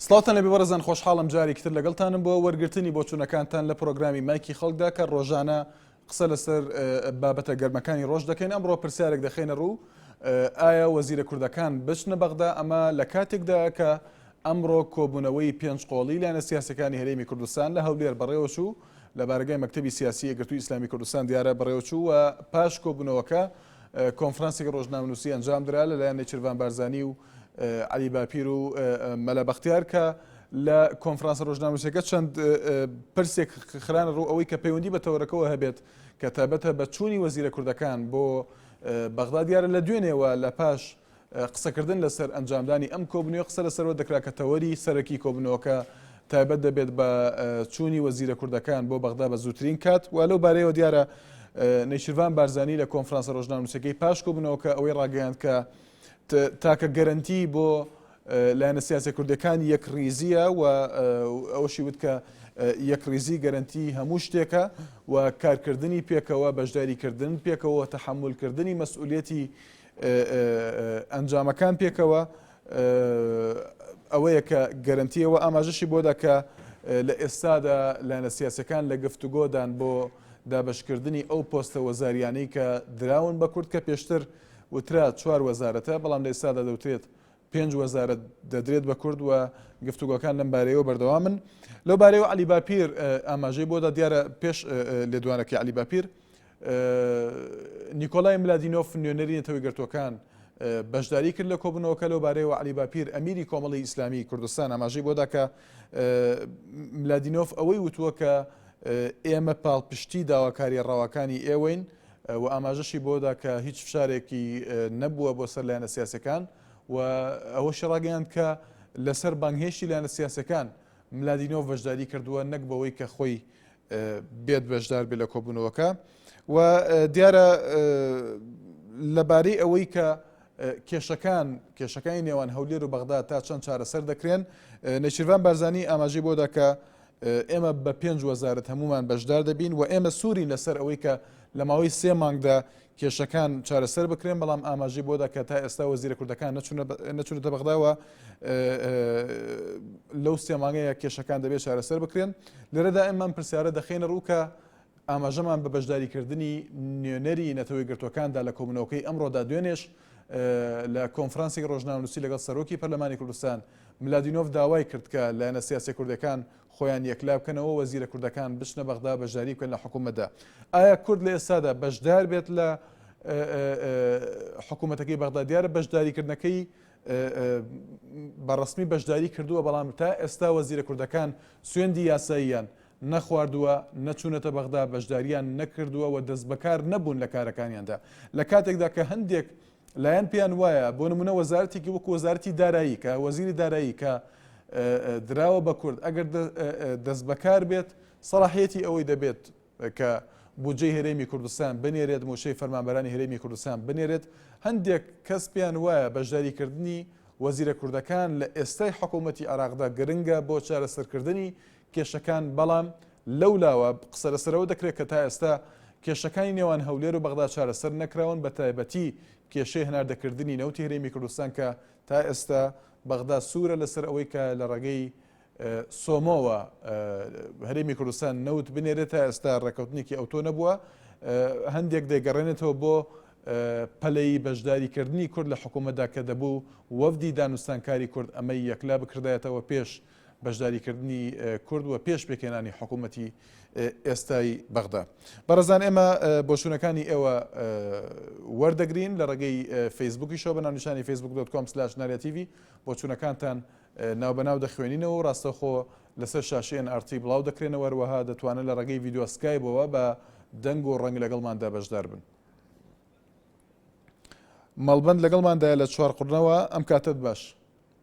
سڵاتان لەبێ بەڕزان خۆشحاڵم جارێکتر لەگەڵتانم بۆ وەرگرتنی بۆچوونەکانتان لە پرۆگرامی مایکی خەڵکدا کە ڕۆژانە قسە لەسەر بابەتە گەرمەکانی ڕۆژ دەکەین، ئەمڕۆ پرسیارێک دەخەینە ڕوو، ئایا وەزیرە کوردەکان بچنە بەغدا، ئەمە لە کاتێکدایە کە ئەمڕۆ کۆبوونەوەی پێنج قۆڵی لایەنە سیاسیەکانی هەرێمی کوردستان لە هەولێر بەڕێوەچوو، لە بارەگای مەکتەبی سیاسی یەکگرتووی ئیسلامی کوردستان دیارە بەڕێوەچوو و پاش کۆبوونەوەکە کۆنفرانسێکی ڕۆژنامەنووسی ئەنجام درا لەلایەن نێچیرڤان بارزانی و عەلی باپیر و مەلا بەختیار کە لە کۆنفرانسە ڕۆژناموسیەکە چەند پرسێک خرانە ڕوو ئەوەی کە پەیوەندی بە تەوەرەکەەوە هەبێت کە تابەتە بە چووی وەزیرە کوردەکان بۆ بەغدا دیارە لە دوێنێەوە لە پاش قسەکردن لەسەر ئەنجامدانی ئەم کۆبنەوەی قسە لەسەرەوە دەکرا کە تەوەری سەرەکی کۆبنەوەکە تایبەت دەبێت بە چوونی وەزیرە کوردەکان بۆ بەغدا بە زووترین کات و لەو بارەیەوە دیارە نەیشرڤان بارزانانی لە کۆنفرانسە ڕۆژناموسەکەی پاش کۆبنەوەکە ئەوەی ڕاگەیاند کە تاکە گەرنتی بۆ لایەنە سیاسە کوردەکان یەک ریزیە و ئەوشی وت کە یەک ریزی گەرنتی هەموو شتێکە و کارکردنی پێکەوە بەشداریکردن پێکەوە تەحملکردنی مەسئولەتی ئەنجامەکان پێکەوە ئەوەیە کە گەرنتیەوە ئاماژەشی بۆدا کە لە ئێستادا لایەنە سیاسەکان لە گفتوگۆدان بۆ دابشکردنی ئەو پۆستە وەزاریانەی کە دراون بە کورد کە پێشتر وترا چوار وەزارەتە بەڵام لە ئێستادا دەوترێت پێنج وەزارەت دەدرێت بە کورد و گفتوگۆکان لەم بارەیەوە بەردەوامن لەو بارەیەوە علی باپیر ئاماژەی بۆدا دیارە پێش لێدوانەکەی علی باپیر نیکۆلای ملادینۆف نوێنەری نەتەوەی گرتوەکان بەشداری کرد لە کۆبنەوەکە لەو بارەیەوە علی باپیر ئەمیری کۆمەڵی ئیسلامی کوردستان ئاماژەی بۆدا کە ملادینۆف ئەوەی وتووە کە ئێمە پاڵپشتی داواکاری ڕەواکانی ئێوەین و ئاماژەشی بەوەدا کە هیچ فشارێکی نەبووە بۆ سەر لایەنە سیاسیەکان و ئەوەشی ڕاگەیاند کە لەسەر بانگهێشتی لایەنە سیاسیەکان ملادینۆڤ بەشداری کردووە نەک بەوەی کە خۆی بێت بەشدار بێت لە کۆبوونەوەکە و دیارە لەبارەی ئەوەی کە کێشەکان کێشەکانی نێوان هەولێر و بەغدا تا چەند چارەسەر دەکرێن نەچیروان بارزانانی ئاماژەی بۆدا کە ئێمە بە پێنج وەزارەت هەموومان بەشدار دەبین و ئێمە سوورین لەسەر ئەوەی کە لە ماوەی سێ مانگدا کێشەکان چارەسەر بکرێن بەڵام ئاماژەی بۆدا کە تا ئێستا وەزیرە کوردەکان نەچونەتە بەغداوە لەو سێمانگەیە کێشەکان دەبێت چارەسەر بکرێن لێرەدا ئەممان پرسیارە دەخینە ڕووکە ئاماژەمان بە بەشداریکردنی نوێنەری نەتەوەیەکگرتووەکاندا لە کۆبوونەوەکەی ئەمڕۆدا دوێنێش لە کۆنفرانسی ڕۆژناونووسی لەگەڵ سەرۆکی پەرلەمانی کوردستان ملادینۆف داوای کرد کە لایەنە سیاسە کوردەکان خۆیان یەکلا بکەنەوە وەزیرە کوردەکان بچنە بەغدا بەشداری بکەن لە حکوومەتدا ئایا کورد لە ئێستادا بەشدار بێت لە حکوومەتەکەی بەغدا دیارە بەشداریکردنەکەی بەڕسمی بەشداری کردووە بەڵام تا ئێستا وەزیرە کوردەکان سوێندی یاساییان نەخواردووە، نەچوونەتە بەغدا، بەشدارییان نەکردووە و دەستبەکار نەبوون لە کارەکانیاندا، لە کاتێکدا کە هەندێک لایەن پێیان وایە، بۆ نموونە وەزارەتێکی وەکو وەزارەتی دارایی کە وەزیری دارایی کە دراوە بە کورد ئەگەر دەستبەکار بێت سەڵاحیەتی ئەوەی دەبێت کە بودجەی هەرێمی کوردستان بنێرێت موچەی فەرمانبەرانی هەرێمی کوردستان بنێرێت هەندێک کەس پێیان وایە بەشداریکردنی وەزیرە کوردەکان لە ئێستای حکوومەتتی عراقدا گرنگە بۆ چارەسەرکردنی کێشەکان، بەڵام لەو لاوە قسە لەسەرەوە دەکرێت کە تا ئێستا کێشەکانی نێوان هەولێر و بەغدا چارەسەر نەکراون بە تایبەتی کێشەی هەناردەکردنی نەوتی هەرێمی کوردستان کە تا ئێستا بەغدا سوورە لەسەر ئەوەی کە لە ڕێگەی سۆمۆوە هەرێمی کوردستان نەوت بنێرێت تا ئێستا ڕێککەوتنێکی ئەوتۆ نەبووە هەندێک دەگەڕێنێتەوە بۆ پەلەی بەشداریکردنی کورد لە حکوومەتدا کە دەبوو وەفدی دانوستانکاری کورد ئەمەی یەکلا بکردایەتەوە پێش بەشداریکردنی کورد و پێش پێکهێنانی حکوومەتی ئێستای بەغدا بەڕزان ئێمە بۆچوونەکانی ئێوە وەردەگرین لە ڕێگەی فەیسبوکی شەوە بە ناونیشانی فەیسبوک دۆت کۆم سلاش نارەتیوی بۆچوونەکانتان ناو بەناو دەخوێنینەوە و ڕاستەخۆ لەسەر شاشیان ئارتی بڵاو دەکرێنەوە وەها دەتوانن لە ڕێگەی ڤیددیوسکای بەوە بە دەنگ و ڕەنگ لەگەڵماندا بەشدار بن. مەڵبند لەگەڵماندایە لە چوارقڕنەوە ئەم کاتت باش.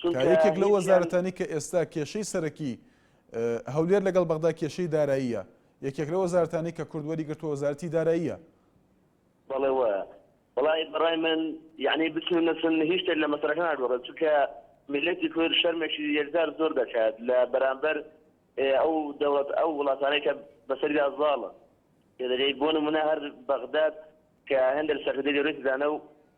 چونکە یەکێک لەو وەزارەتانەی کە ئێستا کێشەی سەرەکی هەولێر لەگەڵ بەغدا کێشەی داراییە یەکێک لە وەزارەتانەی کە کورد وەری گرتووە وەزارەتی داراییە بەڵێ وایە بەڵی بەڕای من یعنی بچون نەچون هیچ شتێک لە مەسەرەکە ناگۆڕێت چونکە میلەتی کورد شەرمێکی یەکجار زۆر دەکات لە بەرامبەر ئەو دەوڵەت ئەو وڵاتانەی کە بەسەردا زاڵن دەگەی بۆ نمونە هەر بەغداد کە هەندێک سەرکردەی گەورەی دانە و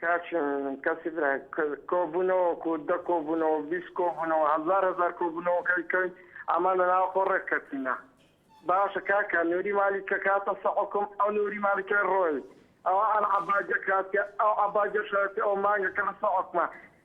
کاک ژن کەسی برا کۆبوونەوەک و دە کۆبوونەوە بیست کۆبوونەوە هەزار هەزار کۆبوونەوەکەی کەین ئەمان لە ناو خۆ ڕێک کەتینە باشە کاکە نوری مالی کە کاتە سەحکم ئەو نوری مالیکای ڕۆی ئەوە ئەل عباجە کاتە ئەو عباجە شاتی ئەو مانگە کە لە سەحکمە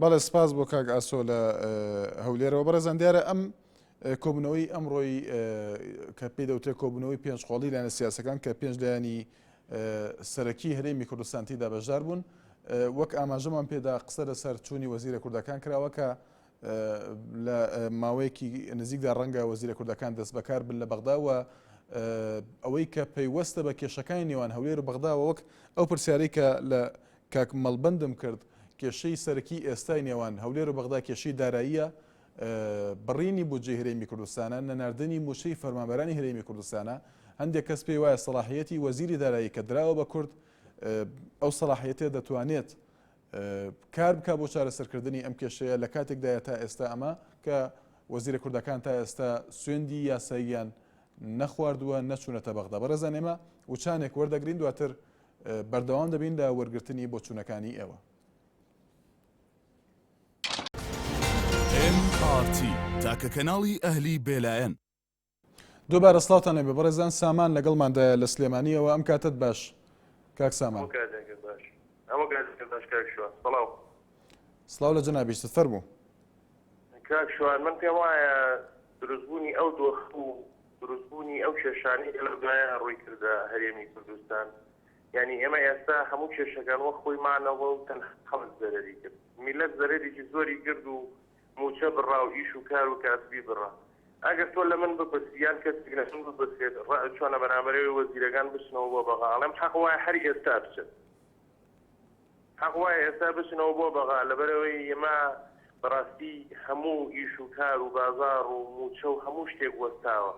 بەڵێ سپاس بۆ کاک ئاسۆ لە هەولێرەوە بەڕێزان دیارە ئەم کۆبنەوەی ئەمڕۆی کە پێی دەوتێت کۆبنەوەی پێنج قۆڵی لایەنە سیاسەکان کە پێنج لایانی سەرەکی هەرێمی کوردستانتی دا بەشدار بوون وەک ئاماژەمان پێدا قسە لەسەر چوونی وەزیرە کوردەکان کراوە کە لە ماوەیەکی نزیکدا ڕەنگە وەزیرە کوردەکان دەست بەکار بن لە بەغداوە ئەوەی کە پەیوەستە بە کێشەکانی نێوان هەولێر و بەغداوە وەک ئەو پرسیارەی کە لە کاک مەڵبەندم کرد، کێشەی سەرەکی ئێستای نێوان هەولێر و بەغدا کێشەی داراییە، بڕینی بودجەی هەرێمی کوردستانە، نەناردنی مووچەی فەرمانبەرانی هەرێمی کوردستانە، هەندێک کەس پێی وایە سەڵاحییەتی وەزیری دارایی کە دراوە بە کورد، ئەو سەڵاحییەتە دەتوانێت کار بکات بۆ چارەسەرکردنی ئەم کێشەیە، لە کاتێکدایە تا ئێستا ئەمە کە وەزیرە کوردەکان تا ئێستا سوێندی یاساییان نەخواردووە، نەچوونەتە بەغدا. بەڕێزان ئێمە وچانێک وەردەگرین دواتر بەردەوام دەبین لە وەرگرتنی بۆچوونەکانی ئێوە. تاکە کەناڵی ئەهلی بێلایەن دووبارە سلااوان نەبێ بەڕێزان سامان لەگەڵماندایە لە سلێمانیەوە ئەم کاتت باش کاک سامان سلااو لە جەنابیست فەرموو کاک شوان من پێم وایە دروستبوونی ئەو دۆخ و دروستبوونی ئەو کێشانەی کە لەو دوایە ڕووی کردە هەرێمی کوردستان، یانی ئێمە ئێستا هەموو کێشەکان وەک خۆی مانەوە و تەنها خەڵک زەرەری گرت. میللەت زەرەرێکی زۆری کرد و مووچە بڕا و ئیش و کار و کاسبی بڕا. ئەگەر تۆ لە من بپرسی یان کەسێک لە من بپرسێت ڕەء چۆنە بەرامبەرەوەی وەزیرەکان بچنەوە بۆ بەغا، ئەڵێم حەق وایە هەر ئێستا بچن. حەق وایە ئێستا بچنەوە بۆ بەغا لەبەرئەوەی ئێمە بەڕاستی هەموو ئیش و کار و بازاڕ و مووچە و هەموو شتێک وەستاوە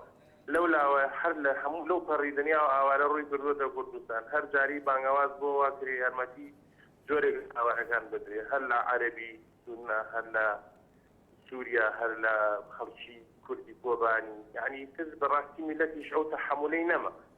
لەولاوە هەر لە هەموو لەو پەڕی دنیاوە ئاوارە ڕووی کردووەتە کوردستان هەر جاری بانگەواز بۆوا کرێ یارمەتی جۆرێک لە ئاوارەکان بدرێ هەر لە عەرەبی سوننە هەر لە سووریا هەر لە خەڵکی کوردی کۆبانی یەعنی تر بەڕاستی میللەتیش ئەو تەحەموولەی نەما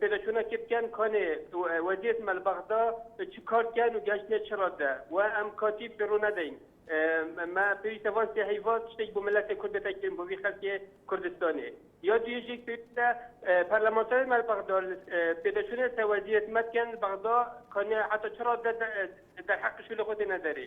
پێداچوونە کرد کەن کانێ وەزیەت مەل بەغدا چ کار کەن و گەشتنێ چ ڕادە و ئەم کاتی پێڕوو نەدەین مە پێویستە وان سێ هەیوا شتێک بۆ ملەتێ کورد دەتەکرێن بۆ وی خەلکێ کوردستانێ یا دوێژێک پێویستە پەرلەمانتارێ مەل بەغدا پێداچوونە سە وەزیەت مەد کەن بەغدا کانێ حتا چ ڕادە دەرحەقشو لە خۆتێ نەدەرێ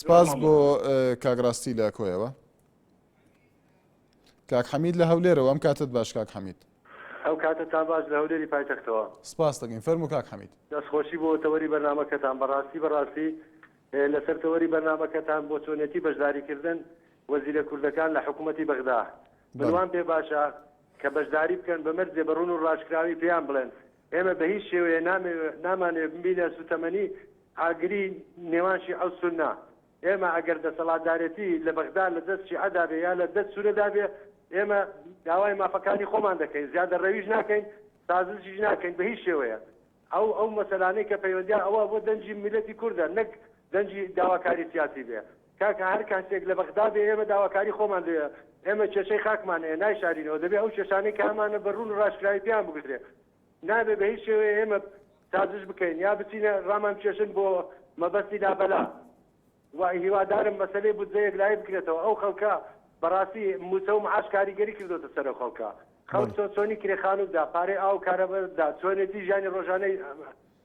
سپاس بۆ کاک ڕاستی لە کۆیەوە کاک حەمید لە هەولێرەوە ئەم کاتت باش کاک حەمید ئەو کاتە تا باش لە هەولێری پایتەختەوە سپاس دەکەین فەرمو کاک حەمید دەستخۆشی بۆ تەوەری بەرنمەکەتان بەڕاستی بەڕاستی لەسەر تەوەری بەرنمەکەتان بۆ چۆنێتی بەشداریکردن وەزیرە کوردەکان لە حکوومەتی بەغدا منوان پێ باشە کە بەشداری بکەن بە مەرجێ بە ڕون و ڕاشکراوی پێیان بڵێن ئێمە بە هیچ شێوەیە نامانەوێت ببینە سووتەمەنی ئاگری نێوان شیعە و سوننە. ئێمە ئەگەر دەسەڵاتدارێتی لە بەغدا لە دەست شیعەدا بێ یا لە دەست سوننەدا بێ، ئێمە داوای مافەکانی خۆمان دەکەین، زیادەڕەویش ناکەین، سازشیش ناکەین بە هیچ شێوەیەک. ئەو ئەو مەسەلانەی کە پەیوەندییان ئەوە بۆ دەنگی میللەتی کوردە نەک دەنگی داواکاری سیاسی بێ. کاکە هەر کاسێک لە بەغدا بێ ئێمە داواکاری خۆمان لێیە، ئێمە کێشەی خاکمان هەیە نایشارینەوە، دەبێ ئەو کێشانەی کە هەمانە بە روون و راشکراوی پێیان بگوترێ، نابێ بە هیچ شێوەیە ئێمە سازش بکەین یا بچینە رامانکێشن بۆ مەبەستی لابەلا و هیوادارم مەسەلەی بودجە یەکلایی بکرێتەوە، ئەو خەڵکە بەڕاستی مووچە و معاش کاریگەری کردۆتە سەر ئەو خەڵکە، خەڵک چۆن چۆنی کرێ خانوو بدا، پارەی ئاو و کارەبا بدا، چۆنێتی ژیانی رۆژانەی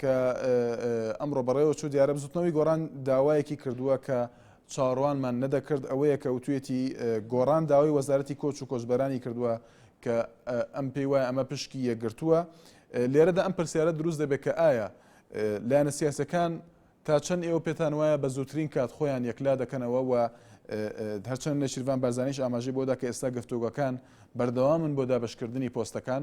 کە ئەمڕۆ بەڕێوەچوو دیارە بزوتنەوەی گۆڕان داوایەکی کردووە کە چاڕوانمان نەدەکرد ئەوەیە کە وتوێتی گۆڕان داوای وەزارەتی کۆچ و کۆچبەرانی کردووە کە ئەم پێی وایە ئەمە پشکی یەکگرتووە لێرەدا ئەم پرسیارە دروست دەبێت کە ئایا لایەنە سیاسەکان تا چەند ئێوە پێتان وایە بە زووترین کات خۆیان یەکلا دەکەنەوە و هەرچەند نەشیرڤان بارزانیش ئاماژەی بۆدا کە ئێستا گفتوگەکان بەردەوامن بۆ دابشکردنی پۆستەکان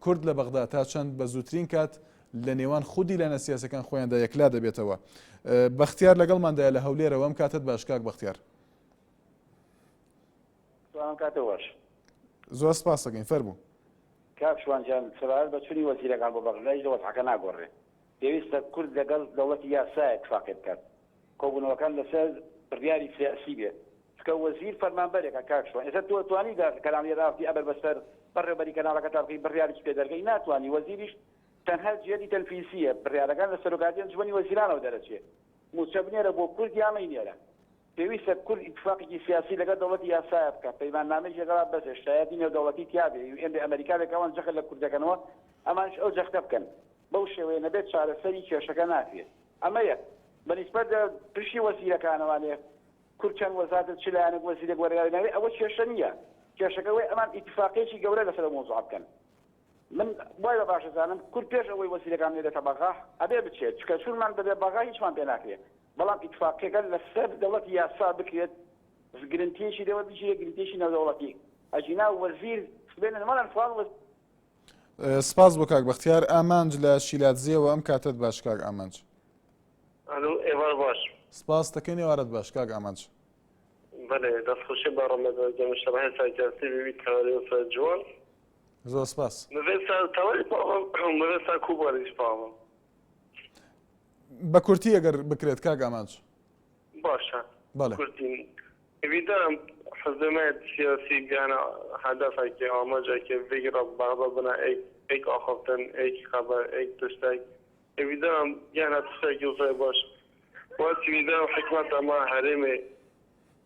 کورد لە بەغدا تا چەند بە زووترین کات لە نێوان خودی لایەنە سیاسەکان خۆیاندا یەکلا دەبێتەوە بەختیار لەگەڵماندایە لە هەولێرەوە ئەم کاتت باش کاک بەختیار زۆر سپاسەکەین فەرموو کاک شوانجان سەبارەت بە چونی وەزیرەکان بۆ بەغدایش لە وەزعەکە ناگۆڕێ پێویستە کورد لەگەڵ دەوڵەتی یاسایەک فاقێ بکات کۆبونەوەکان لەسەر بریاری سیاسی بێت چونکە وەزیر فەرمانبەرێکە کاک شوان ئێستا تۆ توانی دا کەناڵی رافتی ئەبەر بەسەر بەڕێوبەری کەناڵەکەتا بکەی بریاریش پێ دەرگەی ناتوانی وەزیریش تەنها جێدی تەنفیسیە بریارەکان لە سەرۆکاتی ئەنجومەنی وەزیرانەوە دەرەچێ موچە بنێرە بۆ کورد یا مەینێرە پێویستە کورد ئیتفاقێکی سیاسی لەگەڵ دەوڵەتی یاسایە بکات، پەیماننامەی جێگەڕا بەزێ، شایەتی نێودەوڵەتی تیابێ، یو ئێن بێ، ئەمەریکا بێ کە ئەوان جەخت لە کورد دەکەنەوە ئەمانیش ئەو جەختە بکەن. بەو شێوەیە نەبێت چارەسەری کێشەکە ناکرێت. ئەمە یەک. بە نیسبەت لە پرشی وەزیرەکانەوە لێ کورد چەند وەزارەت چ لایەنێک وەزیرێک وەرگەڕێنەوێ ئەوە کێشە نییە. کێشەکە ئەوەیە ئەمان ئیتفاقێکی گەورە لەسەر ئەو مەوزوعە بکەن. من وای بە باش ئەزانم کورد پێش ئەوەی وەزیرەکان نێرێتە بەغا ئەبێ بچێت، چونکە چوونمان بەبێ بەغا هیچمان پێ ناکرێ، بەڵام ئیتفاقیەکە لەسەر دەوڵەتی یاسا بکرێت گرنتیەکی لێوە بگیرێ گرنتیەکی نێودەوڵەتی، ئەگینا وەزیر سبەینێ مەڵێن فڵان وەزیر. سپاس بۆ کاک بەختیار ئامانج لە شیلادزێوە ئەم کاتەت باش کاک ئامانج. ئەلو ئێوار باش. سپاس تەکەین ئێوارت باش کاک ئامانج. بەلێ دەست خوشی بە رەمەزان جەمشەڕە هێسا جاستی ببی تەوەرێ و سەر جوان زۆر سپاس. بە کورتی ئەگەر بکرێت کاک ئامانج. باشە بەڵێ.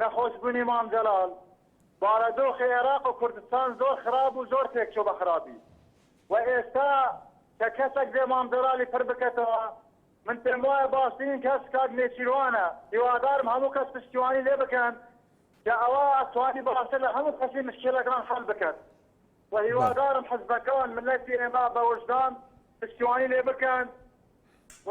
نەخۆشبوونی مام جەلال، بارەدۆخی عێراق و کوردستان زۆر خراپ بوو، زۆر تێکچوو بە خراپی و ئێستا کە کەسەک بێ مام جەلالی پر بکەتەوە، من پێم وایە باشترین کەس کاک نێچیروانە، هیوادارم هەموو کەس پشتیوانی لێ بکەن کە ئەوە ئەتوانی باشتر لە هەموو کەسی مشکیلەکان حەل بکەت و هیوادارم حزبەکان، مللەتی ئێمە بە وژدان پشتیوانی لێ بکەن و.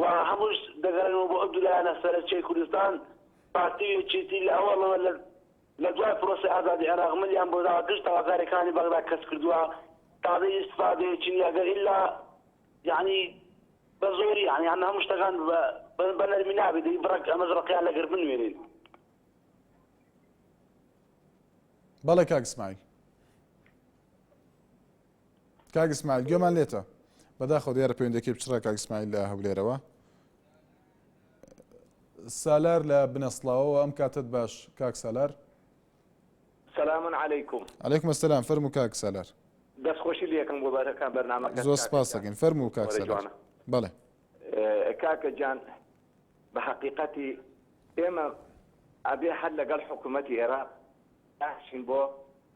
و هەمووش دەگەڕێنەوە بۆ ئەو دوو لایەنە سەرەکیەی کوردستان، پارتی و یەکێتی لە ئەوەڵەوە لە لە دوای پرۆسەی ئازادی عێراق ملیان بۆ داوە گشت داواکاریەکانی بەغدا کەس کردوە تازە ئیستفادەیەکی نیە گەر ئیلا یەعنی بە زۆری یەعنی ئەم هەموو شتەکان بە نەرمی نابێت دەی بڕەک ئەمەش ڕقیان لەگەر بنوێنین بەڵێ کاک سمایل کاک اسماعیل گوێمان لێتە بەداخەوە دیارە پەیوەندەکەی بچڕە کاک اسماعیل لە هەولێرەوە سالار لە بنەسڵاوەوە ئەم کاتت باش کاک سالار سلام علیکم علیکم السلام فەرمو کاک سالار دەست خۆشی لەکەم بۆ بەرەکان بەرنامە زۆر سپاسەکەین فەرمو کاک سالار بەڵێ کاکە جان بە حقیقەتی ئێمە ئەبێ هەر لەگەڵ حکوومەتتی عێراق ئاشین بۆ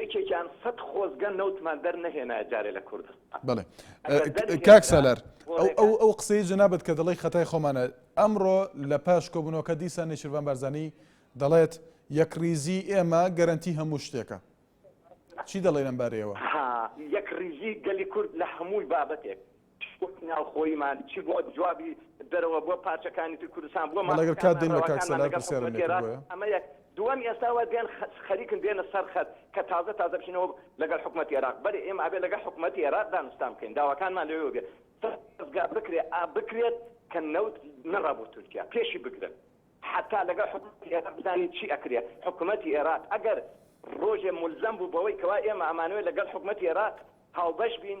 یەکێکیان سەد خۆزگە نەوتمان دەر نەهێنایە جارێ لە کوردستان بەڵێ ئەگەر دەر کاک هێنرا سالار ئەو ئەو گۆڕێکە. ئەو قسەی جەنابت کە دەڵێی خەتای خۆمانە ئەمڕۆ لە پاش کۆبونەوەکە دیسان نێچیرڤان بارزانی دەڵێت یەکڕیزی ئێمە گەرەنتی هەموو شتێکە چی دەڵێی لەم بارەیەوە؟ ها یەکڕیزی گەلی کورد لە هەمووی بابەتێک. شکۆی ناوخۆییمان چی بووە، جوابی دەرەوە بۆ پارچەکانی تری کوردستان، بۆ مافە کارنامەرەواکانمان لەگەڵ حکومەت دێرا، ئەمە یەک. دووەم، ئێستا وا دێن خەریکن دێنە سەر خەت کە تازە تازە بچینەوە لەگەڵ حکومەتی ئێراق، بەری ئێمە ئەبێ لەگەڵ حکومەتی ئێراق دانوستان بکەین، داواکانمان لەوێوە بێ دەزگا بکرێ ئا بکرێت کە نەوت نەڕا بۆ تورکیا، پێشی بگرن حەتا لەگەڵ حکومەتی ئێراق بزانین چی ئەکرێ، حکومەتی ئێراق ئەگەر ڕۆژێ مولزەم بوو بەوەی کەوا ئێمە ئەمانەوێ لەگەڵ حکومەتی ئێراق هاوبەش بین،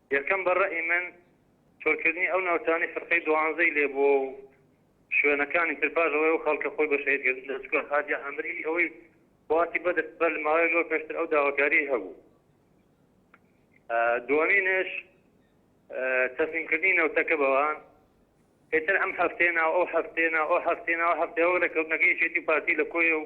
یەکەم بە ڕەئی من چۆلکردنی ئەو ناوچانەی فرقەی دوانزەی لێ بووە و شوێنەکانی تر پاش ئەوەی ئەو خەڵکە خۆی بە شەهید کرد لە چکۆل حاجی عامری ئەوەی وڵاتی بەدر بەر لە ماوەیەک لەوە پێشتر ئەو داواکاریی هەبوو ئە دووەمینش ئە تەسلیم کردنی نەوتەکە بەوان ئێتر ئەم هەفتەیە ناو ئەو هەفتەیە ناو ئەو هەفتەیە ناو هەفتەیە وەک لە کەوتنەکەی یەکێتی و پارتی لە کۆیە و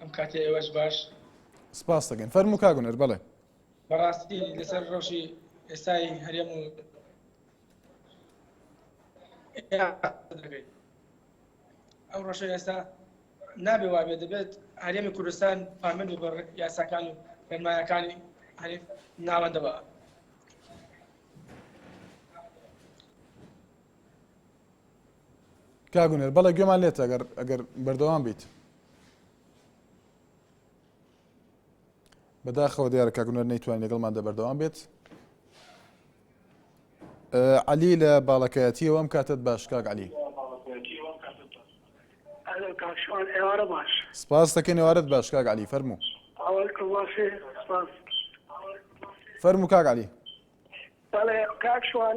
ئەم کاتی ئێوەش باش سپاس دەکەین فەرموو کاک هونەر بەڵێ بەڕاستی لەسەر ڕەوشی ئێستای هەرێم و ئەو ڕەشە ئێستا نابێ وابێ دەبێت هەرێمی کوردستان پامن و بە یاساکان و ڕێنمایەکانی ناوەندەوە کاک هونەر بەڵێ گوێمان لێتە ئەگەر ئەگەر بەردەوام بیت بەداخەوە دیارە کاک هونەر نەیتوان لەگەڵمان دە بەردەوام بێت علی لە باڵەکایەتیەوە ئەم کاتت باش کاک علی سپاس دەکەن ێوارەت باش کاک علی فەرمو فەرمو کاک علی بەڵێ کاک شوان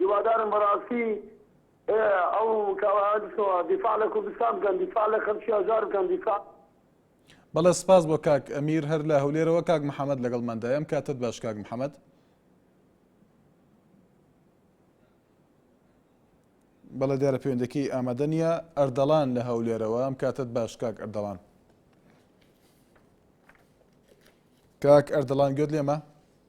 هیوادارم بەڕاستی ئەو کاوەیان بچنەوە دیفاع لە کوردستان بکەن دیفاع لە خەلکی هەژار بکەن دیفاع. بەڵێ سپاس بۆ کاک ئەمیر هەر لە هەولێرەوە کاک محەمەد لەگەڵ مەندای ئەم کاتت باش کاک محەمەد. بەڵێ دیارە پەیوەندەکەی ئامادە نییە ئەردەڵان لە هەولێرەوە ئەم کاتت باش کاک ئەردەڵان کاک ئەردەڵان گوێت لێمە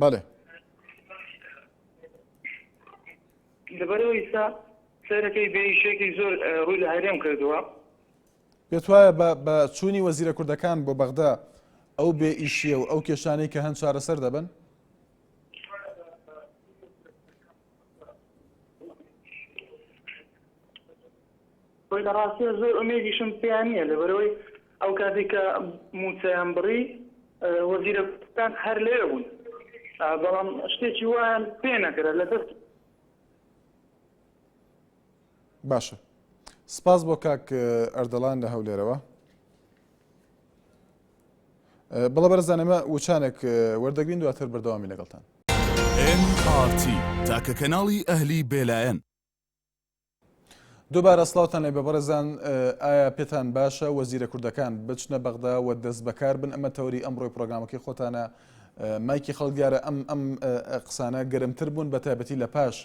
بەێ لەبەرەوە ئیستا سەرەکەی بێشێکی زۆر ڕووی لە هەرێم کردووە پێت وایە بە چوونی وەزیرە کوردەکان بۆ بەغدا ئەو بێ ئیشیە و ئەو کێشانەی کە هەند چارەسەر دەبن وەی لە ڕاستیە زۆر ئومێدیشم پێیان نییە لەبەرەوەی ئەو کاتی کە موچەیان بڕی وەزیرەکان هەر لێ بوون بەڵام شتێکی وایان پێ نەکرە لە دەست باشە سپاس بۆ کاک ئەردەڵان لە هەولێرەوە بەڵێ بەرزان ئێمە وچانێک وەردەگرین دواتر بەردەوامی لەگەڵتان. MRT تاکە کەناڵی ئەهلی بێلایەن. دوبارە سلاوتان لێ بەبڕێزان ئایا پێتان باشە وەزیرە کوردەکان بچنە بەغدا و دەست بەکار بن ئەمە تەوری ئەمڕۆی پرۆگرامەکەی خۆتانە مایکی خەڵگارە ئەم ئەم قسانە گەرمتر بوون بە تایبەتی لە پاش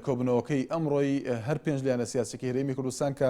کۆبنەوەکەی ئەمڕۆی هەر پێنج لیانە سیاسەکی هەرێمی کوردستان کە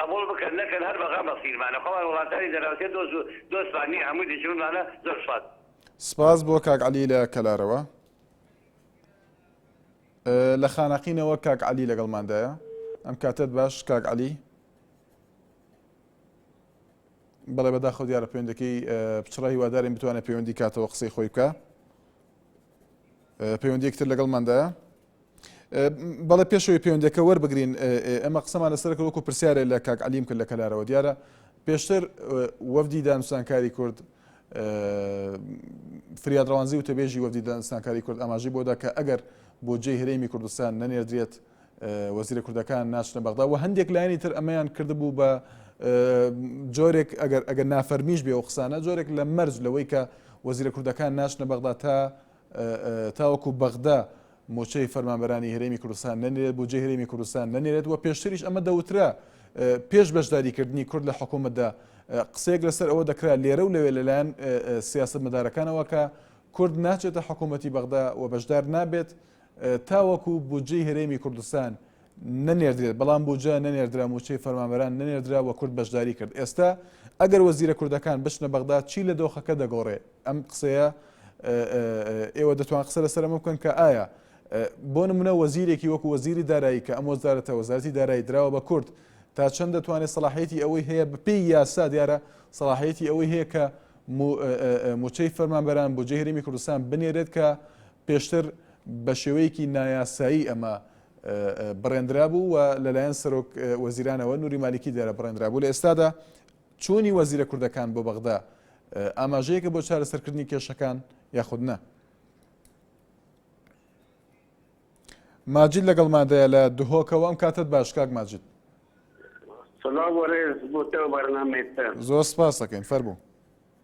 قبوڵ بکەن نەکەن هەر بەغا مەسیرمانە خۆمان وڵاتانی دەرەوتێ دۆست دۆستمان نیە هەموی دوژمنمانە زۆر سوپاس. سپاس بۆ کاک عەلی لە کەلارەوە. لە خانەقینەوە کاک عەلی لەگەڵماندایە ئەم کاتت باش کاک عەلی بەڵێ بەداخەوە دیارە پەیوەندەکەی پچڕای هیوادارین بتوانێت پەیوەندی کاتەوە قسەی خۆی بکە پەیوەندیەکی تر لەگەڵماندایە بەڵێ پێشەوەی پەیوەندەکە وەربگرین ئەمە قسەمان لەسەر کە وەکو پرسیارە لە کاک علیم کرد لە کەلارەوە دیارە پێشتر وەفدی دانوسانکاری کورد فریاد ڕوانزی و تەبێژی وەفدی دانسانکاری کورد ئاماژی بۆدا کە ئەگەر بۆ جێ هەرێمی کوردستان نەنێردرێت وەزیرە کوردەکان ناچنە بەغدا و هەندێک لایەنی تر ئەمەیان کردبوو بە جۆرێک ئەگەر ئەگەر نافەرمیش بێ و قسانە جۆرێک لە مەرج لەوەی کە وەزیرە کوردەکان ناچنە بەغدا تا تاوەکو بەغدا موچەی فەرمانبەرانی هەرێمی کوردستان نەنێرێت بۆ جێ هەرێمی کوردستان نەنێرێت و پێشتریش ئەمە دەوترا پێش بەشداریکردنی کورد لە حکوومەتدا قسێک لەسەر ئەوە دەکرا لێرە و لەوێ لەلایەن سیاست مدارەکانەوە کە کورد ناچێتە حکوومەتتی بەغدا و بەشدار نابێت تاوەکو بودجەی هەرێمی کوردستان نەنێردرێت، بەڵام بودجە نەنێردرا، مووچەی فەرمانبەران نەنێردرا و کورد بەشداری کرد، ئێستا ئەگەر وەزیرە کوردەکان بچنە بەغدا چی لە دۆخەکە دەگۆڕێ؟ ئەم قسەیە ئێوە دەتوان قسە لەسەر ئەمە بکەن کە ئایا بۆ نمونە وەزیرێکی وەکو وەزیری دارایی کە ئەم وەزارەتە وەزارەتی دارایی دراوە بە کورد تا چەند دەتوانێت سەڵاحەتی ئەوەی هەیە بپی یاسا دیارە سەڵاحەتی ئەوەی هەیە کە موچەی فەرمانبەران بۆ جێهرمی کوردستان بنێرێت کە پێشتر بە شێوەیەکی نایاسایی ئەمە بڕێندرابوو و لەلایەن سەرۆک وەزیرانەوە نوری مالیکی دەرە بڕێندرابوو لە ئێستادا چوونی وەزیرە کوردەکان بۆ بەغدا ئاماژەیەکە بۆ چارەسەرکردنی کێشەکان یاخود نە ماجد لەگەڵ مادەیە لە دهۆکەوە ئەم کاتت باش کاک ماجد زۆر سپاسەکەین فەربوو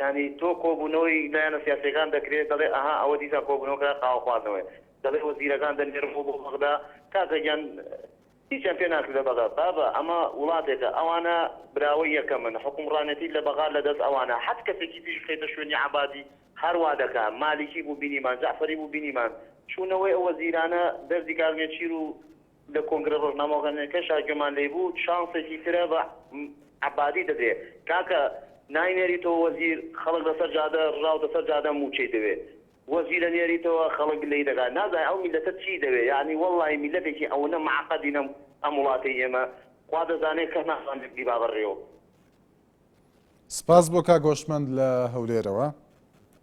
یانی تۆ کۆبونەوەی لایەنە سیاسیەکان دەکرێت دەڵێ ئەها ئەوە دیسان کۆبونەوەکە قاوە خواردنەوەیە دەڵێ وەزیرەکان دەنێرمەوە بۆ بەغدا کاکە گیان هیچیان پێ ناکرێت لە بەغا بابە ئەمە وڵاتێکە ئەوانە براوەی یەکەمن حکومڕانێتی لە بەغا لە دەست ئەوانە حەت کەسێکی تریش بخەیتە شوێنی عەبادی هەر وا دەکا مالیکی بوو بینیمان جەعفەری بوو بینیمان چوونەوەی ئەو وەزیرانە دەردی کاک نێچیر و لە کۆنگرە ڕۆژنامەڤانیەکەشا گوێمان لێی بوو شانسێکی ترە بە عەبادی دەدرێ کاکە ناینێریتەوە وەزیر خەڵک لەسەر جادە ڕژاوتە سەر جادە موچەی دەوێ وەزیرە نێریتەوە خەڵک لێی دەکا نازانێ ئەو میلەتە چی دەوێ یانی وەڵڵاهی میلەتێکی ئەونە معقدینە ئەم وڵاتەی ئێمە خوا دەزانێ کەس نازانێ بیبا بەڕێوە. سپاس بۆ کاک هۆشمەند لە هەولێرەوە.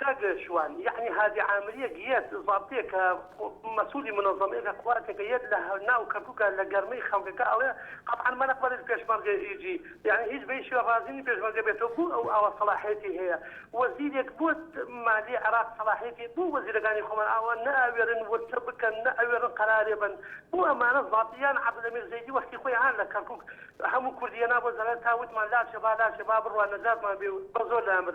کاک شوان یەعنی هادی عامریەک یەت زابتێکە مەسولی منەزەمەیەکە کواتێکە یەت لە ناو کەرکوکا لە گەرمەی خەمگەکە ئەڵێ قەتعەن مەرەق بەرێز پێشمەرگە ئی جی یەعنی هیچ بەیش شوێ ڕازی نی پێشمەرگە بێتەوە بو ئەو ئاوا سەڵاحیەتی هەیە وەزیرێک بو مالی عراق سەڵاحیەتی بو وەزیرەکانی خۆمان ئاوا نە ئەوێرن ورچە بکەن نە ئەوێرن قەرارێ بەن بو ئەمانە زابتی یان عەبدولەمیر زەیدی وەختی خۆی هان لە کەرکوک هەمو کوردی یەنا بۆ زەلال تا وتمان لاچێ با لاچێ با بڕوا نەجاتمان بێ و بەزۆر لامر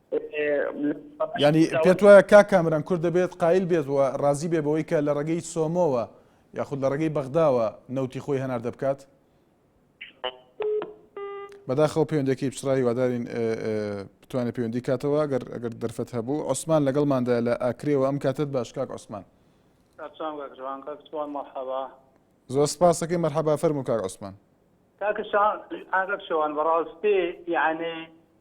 یانی پێت وایە کاک کامران کورد دەبێت قایل بێت و ڕازی بێ بەوەی کە لە ڕێگەی سۆمۆوە یاخود لە ڕێگەی بەغداوە نەوتی خۆی هەناردە بکات بەداخەوە پەیوەندەکەی پچڕا هیوادارین بتوانێت پەیوەندی کاتەوە ئەگەر ئەگەر دەرفەت هەبوو عوسمان لەگەڵماندا لە ئاکرێەوە ئەم کاتت باشکاک عوسمان زۆر سپاسەکەی مەرحەبا فەرمو کاک عوسمان کاکشان ئاگەکشەوان بەڕاستی یانێ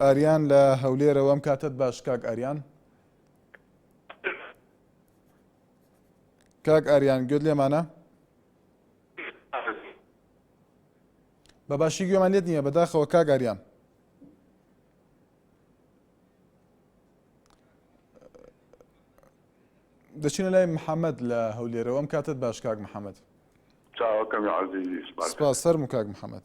ئاریان لە هەولێرە وەم کاتەت باش کاک ئاریان کاک ئاریان گوێت لێمانە بە باشی گوێمان لێت نییە بەداخەوە کاک ئاریان دەچینە لای محەممەد لە هەولێرەوەم کاتت باش کاک محەممەد سەر مکاک محەممەد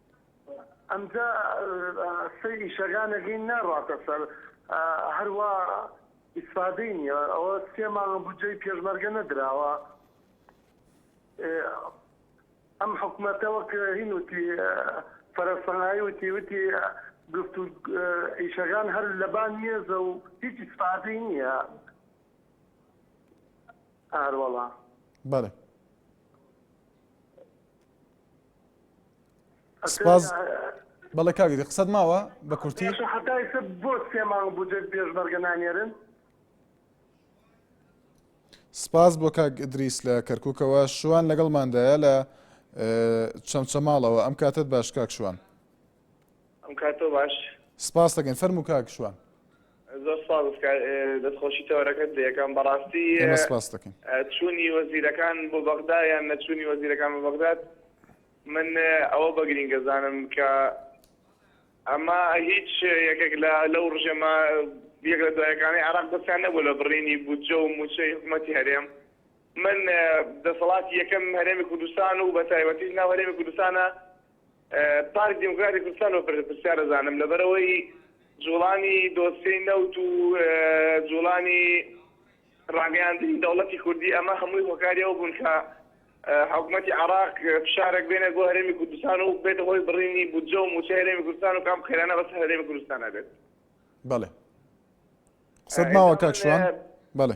ئەمجا سەیری شەگانەگەی ناڕاتە سەر هەر وا ئیسفادەی نیە ئەوە سێ مانگە بودجەی پێشمەرگە نەدراوە ئەم حکومەتە وەک هین وتی فەرە سەنایی وتی وتی گفت و ئیشەگان هەر لەبان مێزە و هیچ ئیسفادەی نیە ئاروەڵا بەڵێ سپاس بەڵێ کاک ئیدی قسەت ماوە بە کورتی باشە حەتا ئیستا بۆ سێ مانگ بودجەت پێشمەرگە نانێرن سپاس بۆ کاک ئیدریس لە کەرکووکەوە شوان لەگەڵماندایە لە چەمچەماڵەوە ئەم کاتت باش کاک شوان ئەم کاتۆ باش سپاس دەکەین فەرموو کاک شوان زۆر سپاس دەستخۆشی تەوەرەکەت لەکەم بەڕاستی ئێمە سپاس دەکەین چوونی وەزیرەکان بۆ بەغدا یان نەچوونی وەزیرەکان بۆ بەغداد من ئەوە بە گرینگەزانم کە ئەمە هیچ یەکێک لە لەو ڕژێمە یەک لە دوایەکانی عراق دەستیان نەبوو لە بڕینی بودجە و موچەی حکوومەتی هەرێم من دەسەڵاتی یەکەم هەرێمی کوردستان و بە تایبەتیش ناو هەرێمی کوردستانە پارتی دیموکراتی کوردستان و پرسیار ئەزانم لەبەرئەوەی جوڵانی دۆسیەی نەوت و جوڵانی ڕاگەیاندنی دەوڵەتی کوردی ئەمە هەمووی هۆکاری ئەوە بوون کە حکومەتی عراق فشارێک بێنێت بۆ هەرێمی کوردستان و بێتە هۆی بڕینی بودجە و موچە هەرێمی کوردستان و کام خێرانە بەس هەرێمی کوردستان نەبێت بەڵێ قسەت ماوە کاک شوان بەڵێ